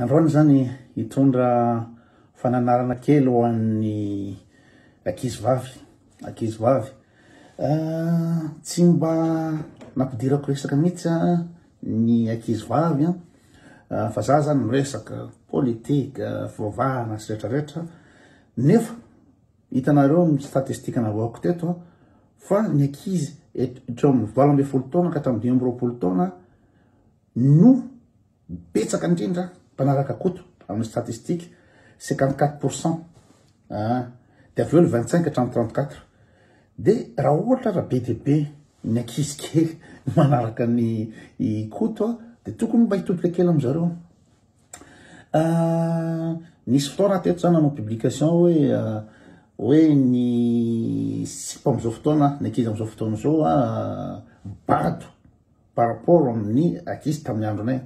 Androany izany hitondra fananarana kely ho an'ny ankizivavy, ankizivavy. Tsy mba nampidirako resaka mihitsy ny ankizivavy fa za zany miresaka politika, fivavahana sy retraretra nefa Hitanareo ny statistika navaoko teto fa ny ankizy hatreo amin'ny valo ambin'ny folo taona ka hatramin'ny dimy amby roapolo taona no betsaka indrindra mpanaraka koto amin'ny statistika 54 pourcent ah, dia avy eo le 25 hatramin'ny 34 dia raha ohatra raha be dia be ny ankizy kely manaraka ny koto dia tokony mba hitodika kely amin'izareo Nisy fotoana teto za nanao publication hoe hoe ny sipa am'izao fotoana ny ankizy am'izao fotoana izao a bado par rapport amin'ny ankizy tamin'ny andronay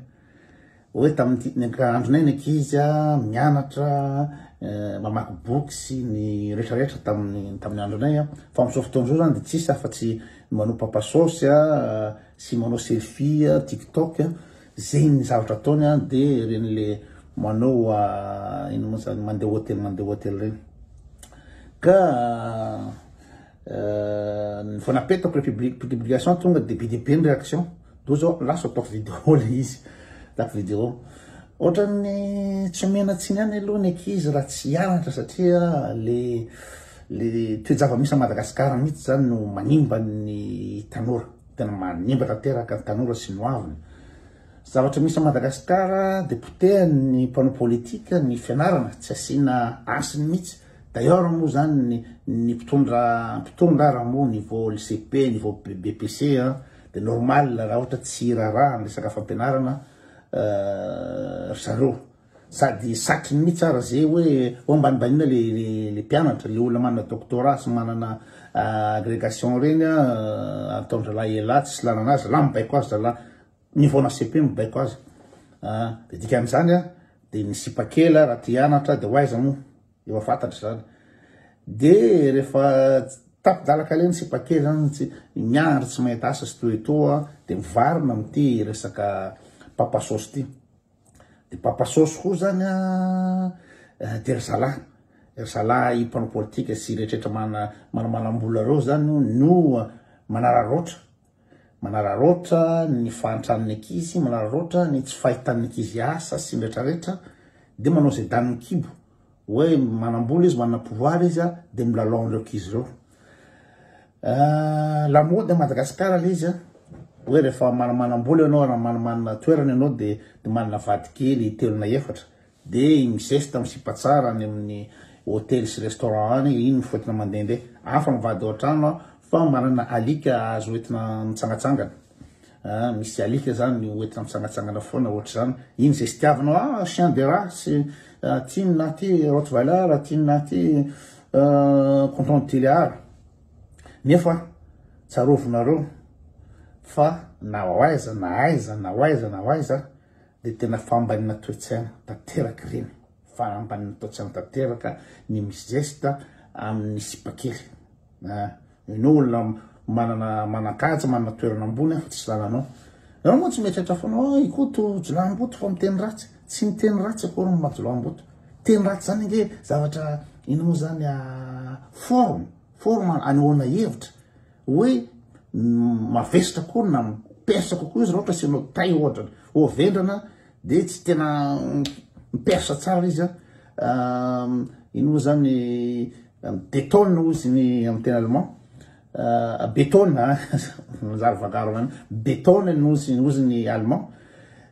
hoe tamin'ity ny ank- andronay ny ankizy a mianatra mamaky boky sy ny rehetrarehetra tamin'ny tamin'ny andronay a fa am'izao fotoana izao zany de tsisy afa-tsy manao papa saosy a sy manao selfie a tiktok a Zegny zavatra ataony a de regny le manao ino mo zany mandeha hotely mandeha hotely regny ka vao napetako le publi- publication tonga de be de be ny réaction do zao lasa ataoko vidéo le izy ataoko vidéo ohatran'ny tsy omena tsiny ihany aloha ny ankizy raha tsy hianatra satria le le toe-java-misy a Madagasikara mihitsy zany no manimba ny tanora Tena manimba tanteraka ny tanora sy ny hoaviny. Zavatra misy à Madagascar dia potehan'ny mpanao politique ny fianarana, tsy asiana hasiny mihitsy. D'ailleurs moa zany ny ny mpitondra mpitondra raha moa niveau lycée be niveau BPC a dia normal raha ohatra tsy hiraharaha ny resaka fampianarana ry zareo. Sady satry ny mitsy ara ze hoe ho ambanibanina le le mpianatra, le olona manana doctorat sy manana agregation reny a ataondralahy elah tsisy lanana azy, lah mibaiko azy zalah mivaona cepe mibaiko azy a de dikan'izany a de ny sipa kely a raha te hianatra de ho aiza moa efa fantatra zany de rehefa tapi-dalaka le ny sipa kely zany tsy miandry tsy mahita asa sy toetoa de mivarina amty resaka papa sôsy ty de papa sôsy koa zany a eh, de ry zalahy ry zalahy mpanao politika sy rehetrarehetra mana manamanam-bola reo zany no manararoatra manararoatra ny fahantran'ny ankizy manararoatra ny tsy fahitan'ny ankizy asa sy ny rehetrarehetra de manao zay danin'ny kibo Hoe manambola izy, manana pouvoir izy a, de milalao an'ireo kizy ireo. Ah, la mode à Madagascar le izy a, hoe rehefa mana- manambola ianao, raha mana- manana toerana ianao de de manana vady kely telo na efatra, de iny mizesta, misipa tsara any amin'ny hotely sy restaurant any, iny mifoetina mandehandeha. Hafa ny vady ao an-trano an, fa manana alika azo entina mitsangatsangana. ah misy alika zany hoentina mitsangatsangana foana ohatr'izany iny zay sitiavinao ah chien de race ah, tiny na ty rottweiler tiny na ty ah, canton de tuléar nefa tsarovinareo fa na ho aiza na aiza na ho aiza na ho aiza dia tena fambanina toe-tsaina tanteraka ireny Fa ambany ny taotsany tanteraka ny Miss Zesta amin'ny sipakely. Ianao olona manana manan-kaja, manana toerana ambony aho fa tsisy lalanao. Ianao moa tsy mieritreritra foana hoe oh, Ikoto Jolahimboto fa miteny ratsy. Tsy miteny ratsy akory ny Majolahimboto. Teny ratsy zany ange zavatra ino moa zany ah, forme, forme anehoana hevitra hoe mavesatra koa na persa kokoa izy raha ohatra asianao tay ohatra. Ho vendrana dia tsy tena mipersa tsara izy an ino moa zany betone hoy izy ny amin'ny tena allemand betone a manjary vagarona any betone no izy hoy izy ny allemand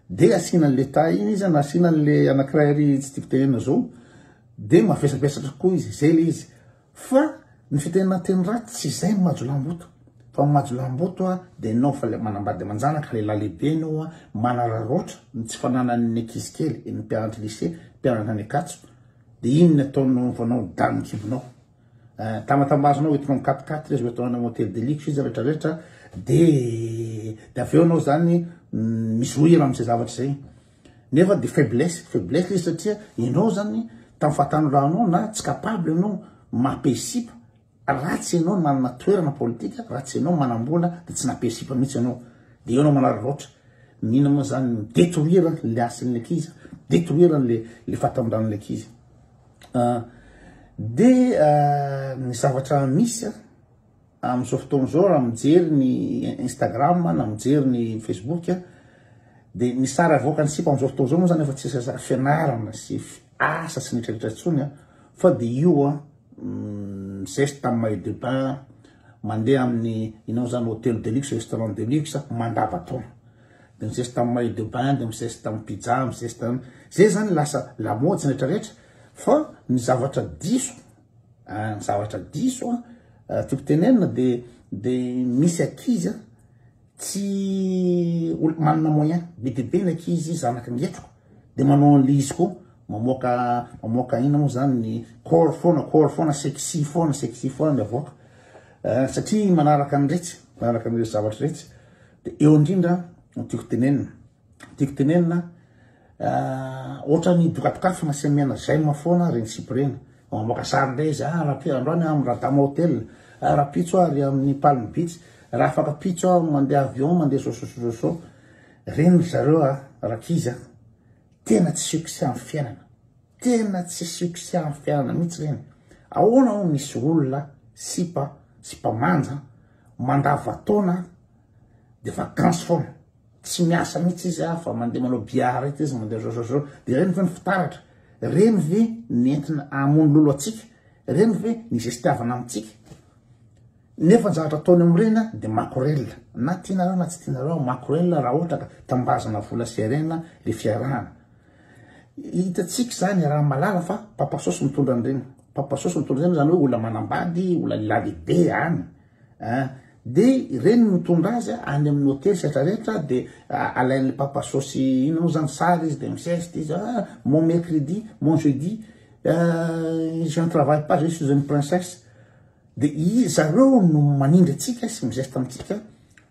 dia asiana an'le ta iny izy an asiana an'le anankiray ary tsy tiako tenenina zao dia mavesabesatra koa izy zay le izy Fa ny fitenanteny ratsy tsy izay ny majolamboto fa ny majolamboto a de enao fa le manambady amanjanaka lehilahy lehibe enao a manararaotra ny tsy fananany ny ankizy kely ny mpianatry lycée mpianatra any ankatso de iny ny ataonao vao anao dany ny kibonao eh, tamatambazinao hoentinao mikatikaty le zo atao any hôtel de luxe izy rehetra rehetra de de avy eo anao zany mm, mizohira amin'izay zavatra izay Nefa dia faiblesse, faiblesse le satria ianao zany tamin'ny fahatanorahonao na tsy capable ianao mampihesipa raha tsy ianao manana toerana politika, raha tsy ianao manambola dia tsy nampihesipa mihitsy ianao. Dia ianao manararaotra. Mino moa zany ny détruire le hasin'ilay ankizy, détruire le le fahatanorahon'ilay ankizy. Ah, dia ah, ny zavatra misy Amin'izao fotoana izao raha mijery ny Instagram na mijery ny Facebook dia ny sary avoakan'ny sipa amin'izao fotoana izao moa izany efa tsy sary fianarana sy asa sy nitreretra intsony fa dia io a mm, zeste tamin'ny maillot de bain mandeha amin'ny inao izany hôtel de luxe restaurant de luxe mandavataona de mizeste tamin'ny maillot de bain de mizeste tamin'ny pizza mizeste zay zany lasa lamaody sy retraretra fa ny zavatra diso Ny zavatra diso tiako tenenina dia dia misy ankizy a tsy olo manana moyen be dia be ny ankizy zanaky ny hetriko dia manao an'ilay izy koa mamoaka mamoaka inona moa zany ny corps foana corps foana sexy foana sexy foana ny avoaka satria manaraka an'iretsy manaraka an'iretsy zavatra iretsy dia eo indrindra no tiako tenenina Tiako tenenina ohatra ny dokadokafana sy mena j'aime foana reny sipa reny mamoaka sary ndray izy ah rapitso andro any amin'ny radama hotel ah rapitso ah ry amin'ny palme beach raha afaka pitso ah mandeha avion mandeha sososososo reny ry zareo ah rankizy ah tena tsy succès amin'ny fiainana tena tsy succès amin'ny fiainana mihitsy reny ahoana ho misy olona sipa sipa manja mandava taona de vacances foana Tsy miasa mihitsy izy a, fa mandeha manao billard eto izy, mandeha zozozoo. Dia ireny ve ny fitaratra? Ireny ve ny entina hamono lolo antsika? Ireny ve ny zestiavana amintsika? Nefa ny zavatra ataony amin'ireny a, dia makorelina. Na tianareo na tsy tianareo, makorelina raha ohatra ka tambazana vola sy harena ilay fiarahana. Hitantsika izany i Ramalala fa Papa Sosy mitondra an'ireny. Papa Sosy mitondra an'ireny, izany hoe olona manambady, olona lehilahy lehibe any. An, de ireny mitondra azy any amin'ny hotely sy rehetra rehetra de alain'le papa sosy ino moa zany sary izy de misesty izy ah mon mercredi mon jeudi ah je ne travaille pas je suis une princesse de izy zareo no manindry antsika sy mizesta amintsika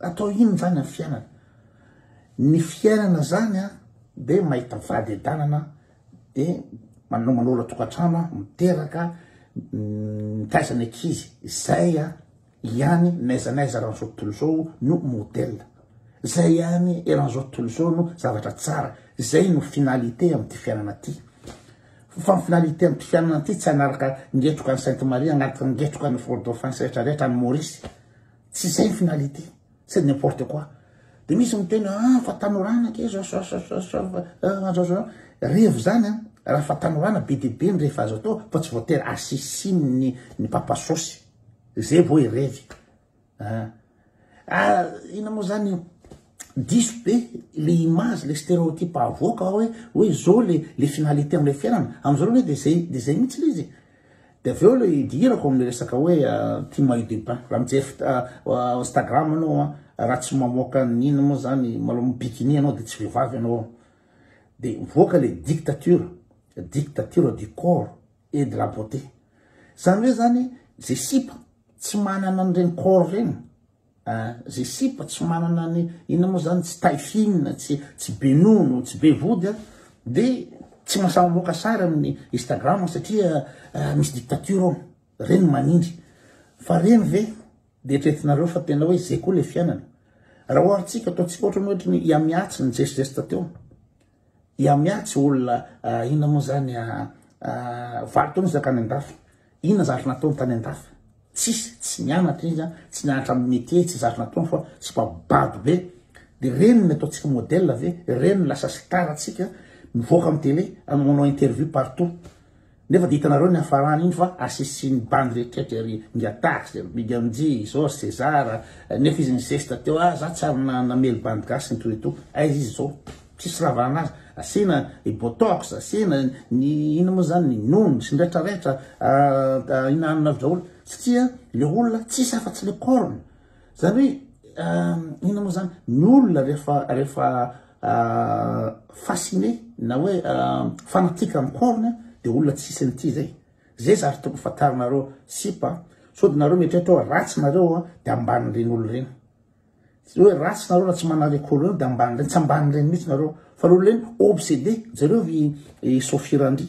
Atao inona zany ny fiainana? Ny fiainana zany a de mahita vady adanana de manao manola tokantrano a miteraka mitaiza ny ankizy zay a ihany n'aiza n'aiza eran'izao tontolo izao no modèle zay ihany eran'izao tontolo izao no zavatra tsara zay no finalité am'ty fiainana ty fa ny finalité am'ty fiainana ty tsy hanaraka ngetroka ny sainte marie agnaraka ngetroka ny fort dauphin sy retraretra any maurice tsy zay ny finalité c'est n'importe quoi de misy miteny a ah, fa tanorana ke revo zany a raha fa tanorana be de be ny rehefa azo atao fa tsy voatery asisinny ny papasosy zay vo e revy ah. ah, ina moa zany io diso be le image le stéréotype avoaka hoe hoe zao le le finalité amle fiainana amzao le hoe de zay de zay mihitsy le izy Dia avy eo ilay idirako amin'ny resaka hoe ity maillot de bain. Raha mijery Instagram anao raha tsy mamoaka ny inona moa zany malao mi bikini anao dia tsy vehivavy anao. Dia mivoaka ilay dictature, dictature du corps et de la beauté. Zany hoe zany izay sipa tsy manana an'ireny corps ireny. Ah ze sipa tsy manana ny inona moa zany tsy taille fine tsy tsy be nono tsy be vody a de tsy mahasahy mamoaka sary amin'ny Instagram satria ah, misy dictature ao reny manindry fa reny ve de eritreretinareo fa tena hoe zay koa le fiainana raha oharintsika ataontsika ohatra ny ohatry ny yamiatsy ny geste geste teo I Amia tsy olona inona moa zany a valo taona izy nankany andafy inona zary nataony tany andafy tsisy tsy nianatra izy a tsy nianatra amin'ny métier tsy zary nataony fa tsy mba bado be de reny ny ataontsika modèle ve reny lasa star atsika mivoaka amin'ny télé manao interview partout Nefa dia hitanareo ny hafarany iny fa asisin'ny bandy rehetrretra ery, Ingahy Tax, Big MJ, Jos, Cesar, nefa izy nizesta teo ah za tsy ary namely bandy gasy nitohy eto, aiza izy zao? tsisy raha vahana azy, asiana i Botox, asiana ny inona moa zany ny Nono sy ny retraretra, ah, ah, inaninareo daholo, satria le olona tsisy afa tsy le corne, Zany hoe euh, ina moa zany ny olona rehefa rehefa euh, fasciné na hoe euh, fanatika amin'ny corne de olona tsisy an'ity zay zay zary toko fantarinareo sipa so de nareo mieritreritra hoe ratsy nareo a de ambanin'ireny olo ireny hoe ratsy nareo raha tsy manareko olo ireny de ambanin'ireny tsy ambanin'ireny mihitsy nareo fa le olo ireny obsédé jereo vy eh, sofirandry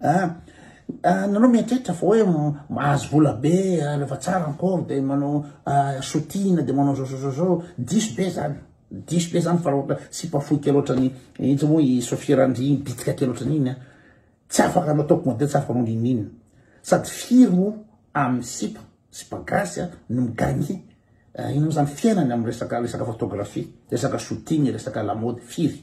Ah nanao mieritreritra fa hoe mahazo vola be rehefa tsara ny pauvre de manao sotina de manao zao zao zao zao diso be zany diso be zany fa raha ohatra sipa fohy kely ohatrany intsy moa i Sofia Randriana bitika kely ohatrany iny a tsy afaka anao top modèle tsy afaka anao n'inon'inona sady firy moa amin'ny sipa sipa gasy a no mi-gagner inona moa zany fiainany amin'ny resaka resaka photographie resaka sotina resaka lamaody firy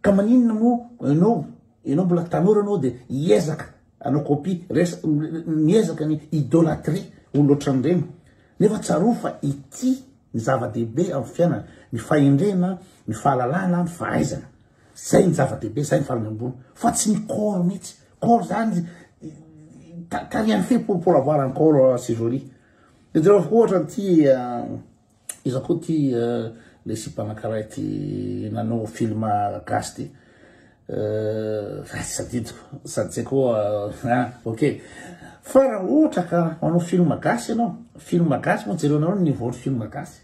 Ka maninona moa enao enao mbola tanora anao de hiezaka anao copie res miezaka ny idolatrie olona ohatran'ireny nefa tsarovy fa ity ny zava-dehibe amin'ny fiainana ny fahendrena ny fahalalana ny fahaizana zay ny zava-dehibe zay ny farany ambony fa tsy ny corps mihitsy corps zany tarihan'ny fe pour pour avoir un corps euh, sivori de jereo ohatra an'ity euh, Iza koa ty lesy mpanankaray ty nanao film gasy ty ratsy sadidiko sady zay koa hein ok fa raha ohatra ka manao film gasy ianao film gasy moa jerenao ny niveau ny film gasy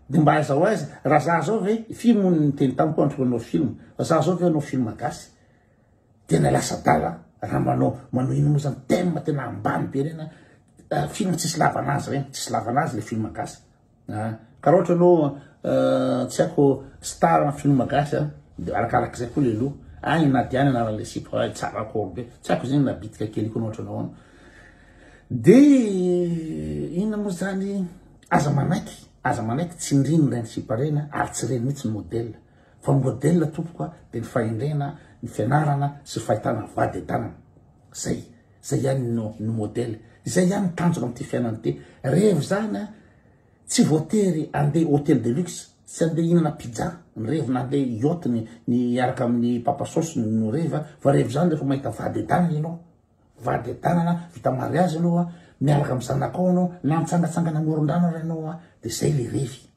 de mba aiza ho aiza raha za zao ve firy moa ny teny tamiko andro manao film fa za zao ve hanao film gasy Tena lasa adala raha manao manao ino moa zany thème tena ambany be reny a film tsisy lavana azy reny tsisy lavana azy le film gasy a ka raha ohatra ianao tsy haiko star am film gasy a de arakarak'izay koa le loha any na dia any anaran'le sipa ay tsara akory be tsy haiko zegny na bitika kely koa na ohatra nahoana de inona moa zany aza manaiky aza manaiky tsindrigny reny sipa reny a ary tsy reny mihitsy ny modèle Fa modèle tompoko a de ny fahendrena, ny fianarana sy ny fahitana vady an-tanana. Zay, zay ihany no no modèle. Izay ihany ny tanjona amin'ity fiainana ity. Revo izany a, tsy voatery andeha hôtel de luxe, tsy andeha hihinana pizza ny revo na andeha yacht ny ny hiaraka amin'ny papa sauce no revo a, fa revo izany rehefa mahita vady an-tanana ianao. Vady an-tanana, vita mariazy ianao a, miaraka amin'ny zanakao ianao na mitsangatsangana amoron-drano ary ianao a, de zay le revy.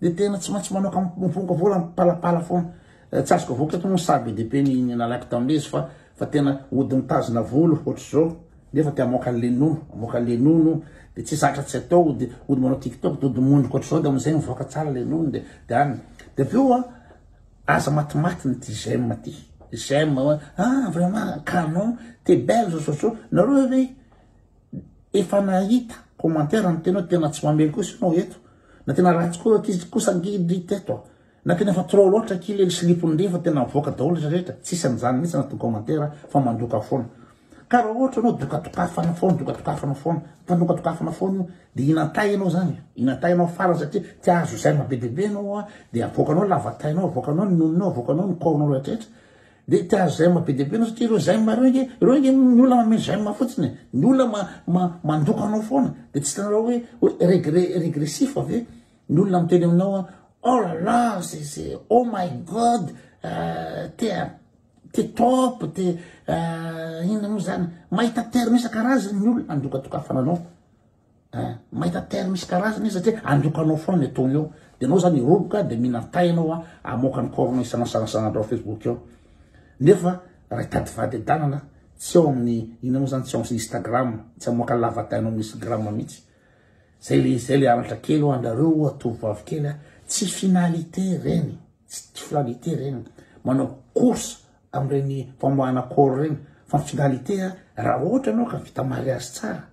Dia tena tsy maintsy manao kampomponka vola mipalapala foana. Eh, tsy azoko avoaka eto moa ny saha be dia be ny ny nalaiko tamin'ilay izy fa fa tena ody mitazona volo ohatr'izao nefa te hamoaka an'ilay nono, hamoaka an'ilay nono dia tsy zatra tsy atao ody ody manao tiktok dia ody mondrika ohatr'izao dia amin'izay mivoaka tsara ilay nono dia dia any. Dia avy eo a aza matimaty ny ty j'aime ty. J'aime hoe ah vraiment canon, t'es belle zao zao zao. Nareo ve Efa nahita commentaire niteny hoe tena tsy mamely kosa ianao eto, na tena ratsy koa ankizy kosa angidy teto a, na tena efa trop loatra ki le slipony ndry efa tena avoaka daholo izy rehetra, tsisy an'izany mihitsy anaty commentaire fa mandoka foana. Ka raha ohatra ianao dokadokafana foana, dokadokafana foana, mpanokadokafana foana io, dia hinan-tay ianao izany e, hinan-tay ianao farany satria te hahazo j'aime be dia be ianao a, dia avoakanao ny lavatainao, avoakanao ny nononao, avoakanao ny kaonao rehetrarehetra, Dia te ahazo zaimes be dia be ianao satria ireo zaimes ireo ange, ireo ange ny olona manome zaimes fotsiny e. Ny olona ma, ma, mandoko anao foana. Dia tsy hitanareo hoe, hoe regre, regressif ve? Ny olona miteny aminao hoe, oh là là, c'est, c'est, oh my God, euh, t'es un, t'es top, t'es, euh, inona moa izany? Mahita termes isan-karazany ny olona handokadokafana anao. Eh, mahita terme isan-karazany izy satria androkanao foana ny ataony eo. Dia anao zany roboka dia minan-tay ianao a, amoaka ny corps-nao isanasanasanandrao Facebook eo. Nefa raha hitady vady adanana tsy ao amin'ny ina moa zany tsy ao amin'ny Instagram, tsy amoaka lavatainao amin'ny Instagram mihitsy. Zay le zay le anatra kely ho anareo atovovavy kely a, tsy finalité reny, tsy finalité reny. Manao course amin'ireny famoahana corps reny fa finalité raha ohatra ianao ka vita mariage tsara